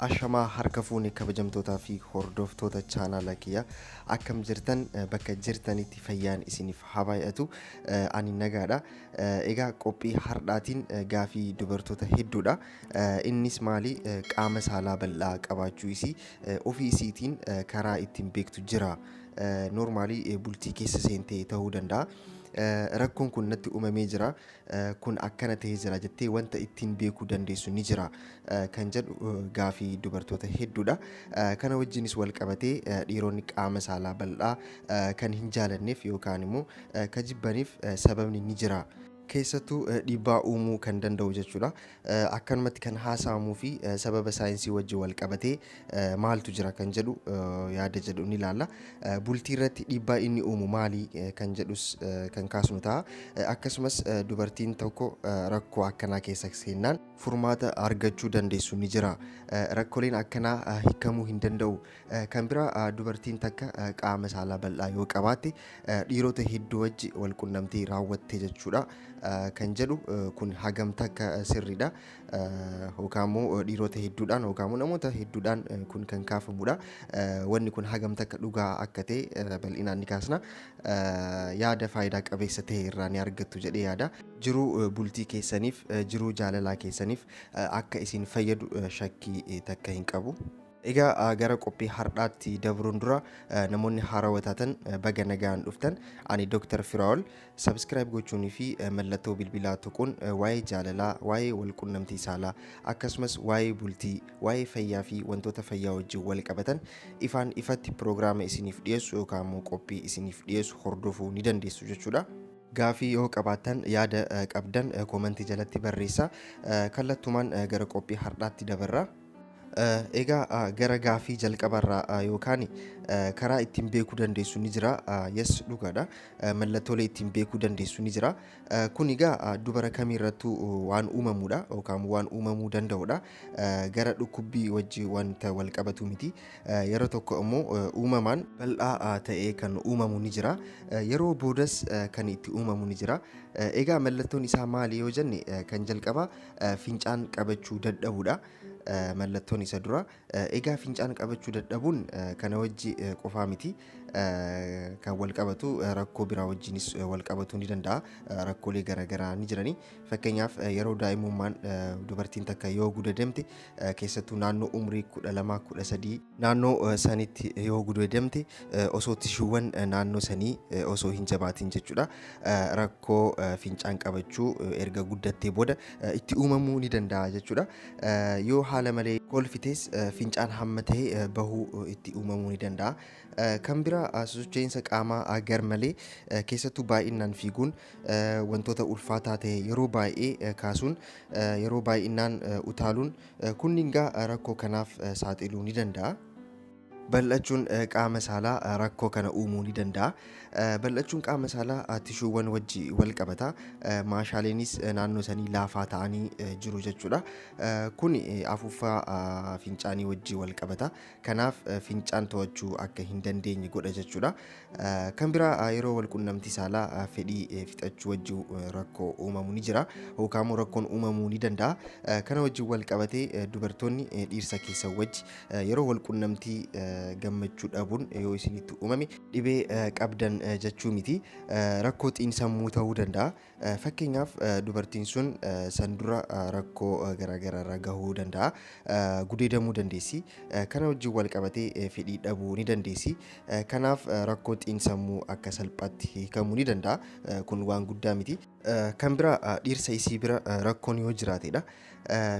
Ashamaa harka fuune kabajamtootaa fi hordoftoota chaanaala kiyya akkam jirtan bakka jirtanitti fayyaan isiniif haa baay'atu ani nagaadha egaa qophii hardhaatiin gaafii dubartoota hedduudha innis maali qaama saalaa bal'aa qabaachuu isii ofii isiitiin karaa ittiin beektu jira noormaalii bultii keessa seentee ta'uu danda'a rakkoon kun natti uumamee jira kun akkana ta'ee jira jettee wanta ittiin beekuu dandeessu ni jira kan jedhu gaafii dubartoota hedduudha. Kana wajjinis wal qabatee dhiironni qaama saalaa bal'aa kan hin jaalanneef yookaan immoo kan jibbaniif sababni ni jira. Keessattuu dhiibbaa uumuu kan danda'u jechuudha. Akkanumatti kan haasa'amuu fi sababa saayinsii wajjin wal qabatee maaltu jira kan jedhu yaada jedhu ni ilaalla. Bultii irratti dhiibbaa inni uumu maali kan jedhus kan kaasnu ta'a. Akkasumas dubartiin tokko rakkoo akkanaa keessa seennaan furmaata argachuu dandeessu ni jira. Rakkoleen akkanaa hiikamuu hin danda'u. Kan biraa dubartiin takka qaama saalaa bal'aa yoo qabaatte dhiirota hedduu wajji wal qunnamtii raawwatte jechuudha kan jedhu kun hagam takka sirriidha. yookaan immoo dhiirota hedduudhaan yookaan immoo namoota hedduudhaan kun kan kaafamudha. Wanni kun hagam takka dhugaa akka ta'e bal'inaan ni kaasna. Yaada faayidaa qabeessa ta'e irraa ni argattu jedhee yaada. Jiruu bultii keessaniif, jiruu jaalalaa keessaniif akka isin fayyadu shakkii takka hin qabu. Egaa gara qophii hardhaatti dabruun dura namoonni haarawa taatan baga nagaan dhuftan. Ani Dr. Firaa'ol. Subscribe gochuunii fi mallattoo bilbilaa tuquun waa'ee jaalalaa, waa'ee walqunnamtii saalaa, akkasumas waa'ee bultii, waa'ee fayyaa fi wantoota fayyaa wajjin wal qabatan ifaan ifatti piroogiraama isiniif dhiyeessu yookaan immoo qophii isiniif dhiyeessu hordofuu ni dandeessu jechuudha. Gaafii yoo qabaattan yaada qabdan koomantii jalatti barreessaa. Kallattumaan gara qophii hardhaatti dabarra. Egaa gara gaafii jalqabarraa yookaan karaa ittiin beekuu dandeessu ni jira. Yes dhugaadha. Mallattoolee ittiin beekuu dandeessu ni jira. Kun egaa dubara kamiirrattuu waan uumamudha yookaan waan uumamuu danda'udha. Gara dhukkubbii wajji wanta wal qabatu miti. Yeroo tokko immoo uumamaan bal'aa ta'ee kan uumamu ni jira. Yeroo boodas kan itti uumamu ni jira. Egaa mallattoon isaa maali yoo jenne kan jalqabaa Fincaan qabachuu dadhabuudha mallattoon isa dura. Egaa fincaan qabachuu dadhabuun kana wajji qofaa miti kan wal qabatu rakkoo biraa wajjinis wal qabatuu ni danda'a. Rakkoolee garaagaraa ni jirani. Fakkeenyaaf yeroo daa'imummaan dubartiin takka yoo gudadamte keessattuu naannoo umrii 12 13 naannoo sanitti yoo gudeedamte osoo tishuuwwan naannoo sanii osoo hin jabaatin jechuudha rakkoo fincaan qabachuu erga guddattee booda itti uumamuu ni danda'a jechuudha yoo haala malee kolfites fincaan hamma ta'e bahuu itti uumamuu ni danda'a. Kan bira sosocho'insa qaamaa gar malee keessattuu baay'inaan fiiguun wantoota ulfaataa ta'e yeroo baay'ee kaasuun Yeroo baay'inaan utaaluun kunningaa rakkoo kanaaf saaxiluu ni danda'a. Bal'achuun qaama saalaa rakkoo kana uumuu ni danda'a. Bal'achuun qaama saalaa tishuuwwan wajji wal qabata. Maashaaleenis naannoo sanii laafaa ta'anii jiru jechuudha. Kun afuuffaa fincaanii wajji wal qabata. Kanaaf fincaan to'achuu akka hin dandeenye godha jechuudha. Kan biraa yeroo wal qunnamtii saalaa fedhii fixachuu wajjin rakkoo uumamu ni jira. Hookaamoo rakkoon uumamuu ni danda'a. Kana wajjin wal qabatee dubartoonni dhiirsa keessa wajji yeroo wal qunnamtii gammachuu dhabuun yoo isinitti uumame dhibee qabdan jechuu miti. Rakkoo xiinsammuu ta'uu danda'a. Fakkeenyaaf dubartiin sun san dura rakkoo garaagaraa irra gahuu danda'a. Gudeedamuu dandeessi. Kana wajjin wal qabatee fedhii dhabuu ni dandeessi. Kanaaf rakkoo xiinsammuu akka salphaatti hiikamuu ni danda'a. Kun waan guddaa miti. Kan biraa dhiirsa isii bira rakkoon yoo jiraatedha.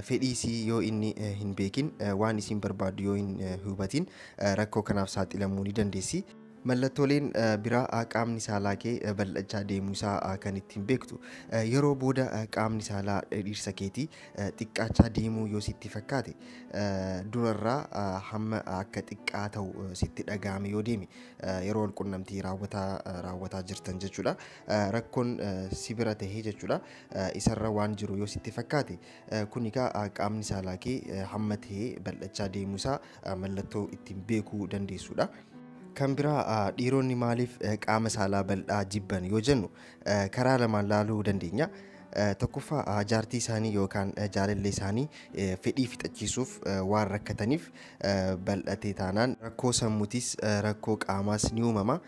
Fedhii isii yoo inni hin beekin waan isiin barbaaddu yoo hin hubatin rakkoo kanaaf saaxilamuu ni dandeessi. Mallattooleen biraa qaamni saalaa kee bal'achaa deemuu isaa kan ittiin beektu yeroo booda qaamni saalaa dhiirsa keetii xiqqaachaa deemuu yoo sitti fakkaate durarraa hamma akka xiqqaa ta'u sitti dhaga'ame yoo deeme yeroo wal qunnamtii raawwataa raawwataa jirtan jechuudha. Rakkoon si bira tahee jechuudha. Isarra waan jiru yoo sitti fakkaate kun egaa qaamni saalaa kee hamma tahee bal'achaa deemuu isaa mallattoo ittiin beekuu dandeessudha. Kan biraa dhiironni maaliif qaama saalaa bal'aa jibban yoo jennu karaa lamaan laaluu dandeenya. Tokkoffaa jaartii isaanii yookaan jaalallee isaanii fedhii fixachiisuuf waan rakkataniif bal'atee taanaan rakkoo sammutis rakkoo qaamaas ni uumama.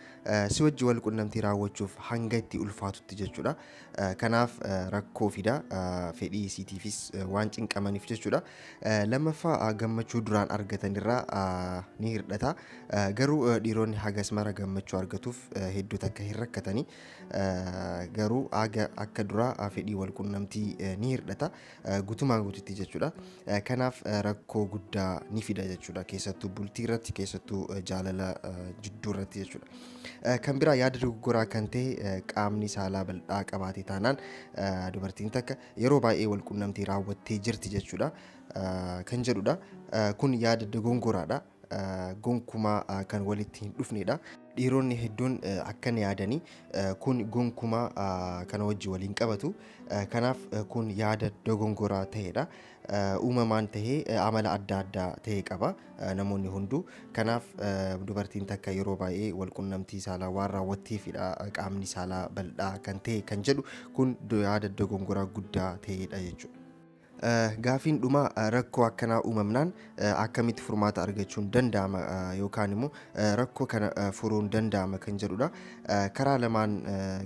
Si wajji wal qunnamtii raawwachuuf hanga itti ulfaatutti jechuudha. Kanaaf rakkoo fida fedhii isiitiifis waan cinqamaniif jechuudha. Lammaffaa gammachuu duraan argatan irraa ni hirdhata. Garuu dhiironni hagas mara gammachuu argatuuf hedduu takka hin rakkatani. Garuu haga akka duraa fedhii wal qunnamtii ni hirdhata. Gutumaan gututti jechuudha. Kanaaf rakkoo guddaa ni fida jechuudha. Keessattuu bultii irratti keessattuu jaalala jidduu irratti jechuudha. Kan biraa yaada dogoggoraa kan ta'e qaamni saalaa bal'aa qabaate taanaan dubartiin takka yeroo baay'ee walqunnamtii raawwattee jirti jechuudha kan jedhudha. Kun yaada dogongoraadha. Gonkumaa kan walitti hin dhufnedha. Dhiironni hedduun akkan yaadanii kun gonkumaa kana wajji waliin qabatu. Kanaaf kun yaada dogongoraa ta'edha. Uumamaan ta'ee amala adda addaa ta'e qaba. namoonni hunduu. Kanaaf dubartiin takka yeroo baay'ee walqunnamtii saalaa waan raawwatteefidha qaamni saalaa bal'aa kan ta'e kan jedhu kun yaada dogongoraa guddaa ta'edha jechuudha. Gaafiin dhumaa rakkoo akkanaa uumamnaan akkamitti furmaata argachuun danda'ama yookaan immoo rakkoo kana furuun danda'ama kan jedhudha. Karaa lamaan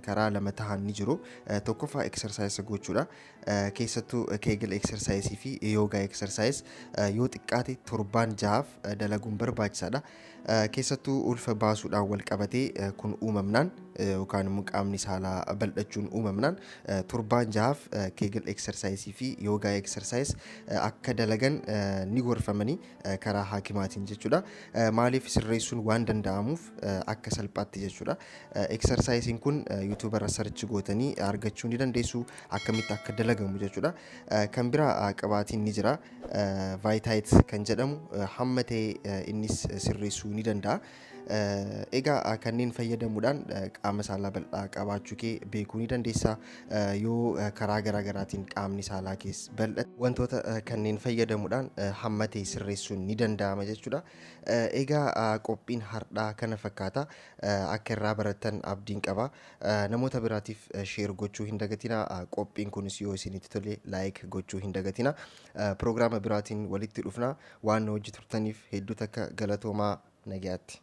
karaa lama tahan ni jiru. Tokkoffaa eksarsaayisa gochuudha. keessattuu keegil eksarsaayisii fi yoogaa eksarsaayis yoo xiqqaate torbaan jahaaf dalaguun barbaachisaadha. Keessattuu ulfa baasuudhaan wal qabatee kun uumamnaan yookaan immoo qaamni saalaa bal'achuun uumamnaan torbaan jahaaf keegil eksarsaayisii fi yoogaa eksarsaayis akka dalagan ni gorfamanii karaa haakimaatiin jechuudha. Maaliif sirreessuun waan danda'amuuf akka salphaatti jechuudha. Eksarsaayisiin kun yuutuubarra sarchi gootanii argachuu ni dandeessu. akkamitti akka dalagamu jechuudha. Kan biraa qabaatiin ni jira. Vaayitaayit kan jedhamu hamma ta'e innis sirreessuu ni danda'a. Egaa kanneen fayyadamuudhaan qaama saalaa bal'aa qabaachuu kee beekuu ni dandeessa. Yoo karaa garaa garaatiin qaamni saalaa kees bal'ate wantoota kanneen fayyadamuudhaan hamma ta'e sirreessuun ni danda'ama jechuudha. Egaa qophiin har'aa kana fakkaata. Akka irraa barattan abdiin qaba. Namoota biraatiif share gochuu hin dagatina. Qophiin kunis yoo isinitti tole like gochuu hin dagatina. Prograama biraatiin walitti dhufna. Waan nu wajji turtaniif hedduu takka galatoomaa nagayaatti.